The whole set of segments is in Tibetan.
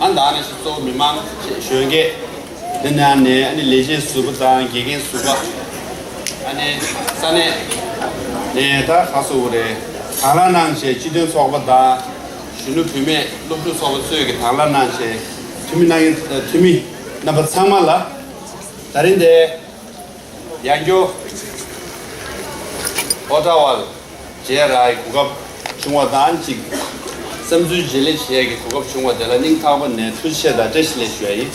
ཨ་འདང་ནས་སུ་གཙོ་བོ་མི་མང་ཞེས་གཞོན་སྐད། དེ་ནས་ཨ་ནས་ཨ་ནི་ལས་བྱེད་ཟུར་པ་དང་དགེ་རྒན་ཟུར་པ། ཨ་ནས་ས་གནས། ནས་ད་ག་སོ་བོ་རེད་དང་ལ་གནང་ཞེས་སྤྱི་དོན་ཚོགས་པ་དང། གཞོན་ནུ་བུད་མེད་སློབ་ཕྲུག་ཚོགས་པ་གཙོས་ཀྱི་དང་ལ་གནང་ཞེས་འཐུས་མི་གནང་གི་འཐུས་མི་རྣམ་པ་ཚང་མ་ལ་ད་རིང་དེ། ཡང་རྒྱུ། ཨོ་ཏྲ་བྷ། བྱས་ར་ཡི་གོ་སྐབས་བྱུང་བ་དང་གཅིག། བསམ་ཚུལ་བརྗེ་ལེན་བྱས་ཀྱི་གོ་སྐབས་བྱུང་བ་དེ་ལ་སྙིང་ཐག་པ་ནས་ཐུགས་ཆེ་དང་བཀྲ་ཤིས་ལེགས་ཞུ་ཡིན།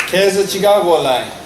ཁྱེད་ས་ཆི་ཀ་གོ་ལ་ཡིན།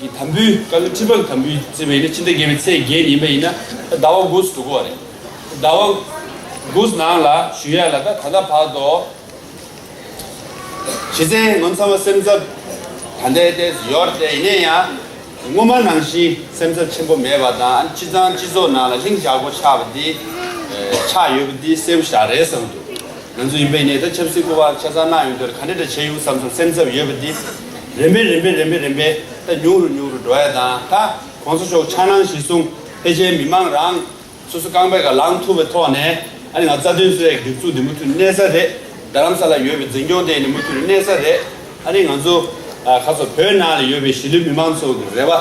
གི་དམ་བུའི་བཀའ་བློན་ཁྲི་པ་དམ་བུའི་བརྩེ་བའི་ནི་སྤྱི་ཟླ་བརྒྱད་པའི་ཚེས་བརྒྱད་ཉིན་པ་ཡིན་ན་ད་ཟླ་བ་དགུ་སུ་གོ་བ་རེད་ཟླ་བ་དགུ་ནང་ལ་ཞུ་ཡ་ལ་ད་ད་ལྟ་བར་དོ། བྱེད་ཚེ་ངོ་མཚར་བ་སེམས་འཚབ་ད་ལྟའི་ལྟས་སུ་ཡོད་རེད་ཡིན་ན་ཡང་སྔོན་མ་ནང་བཞིན་སེམས་འཚབ་ཆེན་པོ་མེད་པ་དང་སྤྱི་ཚང་སྤྱི་ཚོགས་ནང་ལ་ལྷིང་འཇགས་པོ་ཆགས་པ་དེ་ཆགས་ཡོད་པ་དེ་སེམས་བཞག་རེད་བསམ་འདུག་ང་ཚོ་ཡིན་པ་ཡིན་ན་ད་ཆབ་སྲིད་སྐོར་བ་ཆ་ཚང་གནང་ཡོང་དུས་ལ་ག་འདྲ་འདྲ་བྱས་ཡོང་བསམ་སོང་སེམས་འཚབ་ཡོད་པ་དེ། རེམ་པས་རེམ་པས་རེམ་པས་རེམ་པས་ད་ཉུག་རུ་ཉུག་རུ་འགྲོ་ཡ་དང་ད་གོང་ས་མཆོག་ཕྱག་ནང་བཞིན་གསུང་ཕལ་ཆེར་མི་མང་རང་སོ་སོ་རྐང་པས་ག་ལང་ཐུབ་པའི་ཐོག་ནས་ཨ་ནི་ང་རྩ་དོན་སོའི་སྒྲིག་འཛུགས་འདི་མུ་མཐུད་གནས་ས་རེད་རྡ་རམ་ས་ལ་ཡོད་པའི་འཛིན་སྐྱོང་དེ་ནི་མུ་མཐུད་གནས་ས་རེད་ཨ་ནི་ང་ཚོ་ཁ་ཚོ་བོད་ནང་ལ་ཡོད་པའི་གཞིས་ལུས་མི་མང་ཚོ་གི་རེ་བ་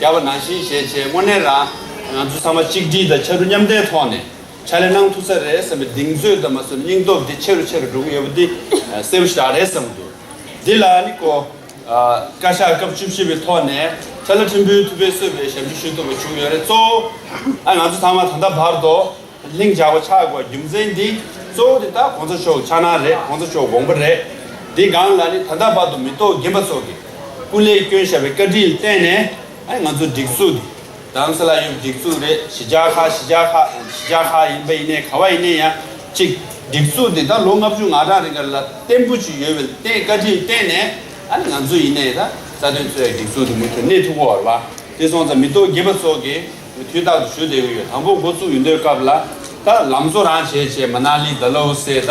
རྒྱབ་པ་ནང་བཞིན་བཞེས་ཆེད་དངོས་གནས་རང་ང་ཚོ་ཚང་མ་གཅིག་སྒྲིལ་དང་ཆ་རུ་མཉམ་ལྟའི་ཐོག་ནས་ཕྱག་ལས་གནང་ཐུབ་ས་རེད་བསམ་པའི་གདེང་ཚོད་དང་མ་ཟུར་སྙིང་སྟོབས་དེ་ཆེ་རུ་ཆེ་རུ་འགྲོ་གི་ཡོད་པ་འདི་གསལ་པོ་ཞིག་རག་རེད་བསམ་གི་འདུག། འདི་ལ་ནི་གོ། བཀའ་ཤག་སྐབས་བཅུ་བཞི་པའི་ཐོག་ནས་ཏཱ་ལ་ཁྲིམས་དཔོན་ཐུབ་པས་གསོད་པའི་ཞབས་ཞུ་ཞུ་ཐུབ་པ་བྱུང་ཡོད་རེད་གཙོ་བོ་ང་ཚོ་ཚང་མ་ད་ལྟ་བར་དུ་ལྷིང་འཇགས་པ་ཆགས་དགོས་རྒྱུ་མཚན་འདི་གཙོ་བོ་དེ་དག་གོང་ས་མཆོག་ཕྱག་ན་རེད་གོང་ས་མཆོག་དགོངས་པ་རེད་འདི་སྒང་ལ་ནི་ད་ལྟ་བར་དུ་མི་ཐོག་རྒན་པ་ཚོ་གི་སྐུ་ལས་སྐྱོན་ཞབས་པའི་བཀའ་དྲིན་བརྟེན་ནས་ང་ཚོ་སྒྲིག་འཛུགས་འདི་དྭངས་གསལ་ལ་ཡུག་སྒྲིག་འཛུགས་རེད་ཞི་རྒྱ་ཁ་ཞི་རྒྱ་ཁ་ཞི་རྒྱ་ཁ་ཡིན་པ་ཡིན་ནའི་ག་བ་ཡིན་ནའི་ཡང་གཅིག་སྒྲིག་འཛུགས་དེ་ད་ལོ་ལྔ་བཅུ་ང་གྲངས་རིང་ག་ལ་བརྟན་པོ་ཅིག་ཡོད་བལ་བརྟན་བཀའ་དྲིན་བརྟན་ནས་ཨ་ནི་ང་ཚོ་ཡིན་ནའི་ད་རྩ་དོན་གཙོས་སྒྲིག་འཛུགས་དེ་མུ་མཐུད་གནས་ཐུབ་བོར་བ་དེ་སོང་ཙང་མི་ཏོག་རྒྱས་པ་སོགས་ཀྱིས་མུ་མཐུད་རྟག་ཏུ་ཞུ་བསྡད་གི་ཡོད་དང་པོ་འགོ་བཙུགས་ཡུན་དོའི་སྐབས་ལ་ད་ལམ་བཟོ་རང་བྱས་བྱས་མ་ནཱ་ལི་ད་ལོའུ་སེ་ད།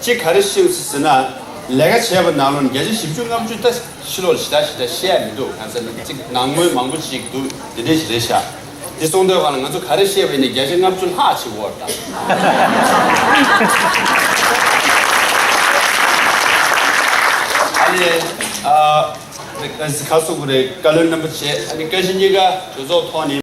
གཅིག་ག་རེ་ཤེས་ཟེར་ན། ལས་ཀ་བྱས་པ་ནང་ལོ་བརྒྱ་ཆ་བཞི་བཅུ་ལྔ་བཅུ་ད་ཕྱི་ལོག་ལ་ཞེ་དྲག་ཞེ་དྲག་བཤད་ཡ་མི་འདུག་གང་ཟེར་ན་གཅིག་ནང་དངུལ་མང་པོ་ཞིག་འདུག་དེ་འདྲས་ཞིག་རེད་ཤག་དེ་གསུང་འདོད་གང་ལ་ང་ཚོ་ག་རེ་བཤད་པ་ཡིན་ན་བརྒྱ་ཆ་ལྔ་བཅུ་ལྷག་ཅིག་བོར་ཨ་ནེ་ཨ་ཟི་ཁ་སོག་པོ་རེད་བཀའ་བློན་རྣམ་པ་བྱས་ཨ་ནེ་བཀའ་སྤྱི་གཉིས་ཀ་གྲོས་ཚོགས་ཐོག་ནས།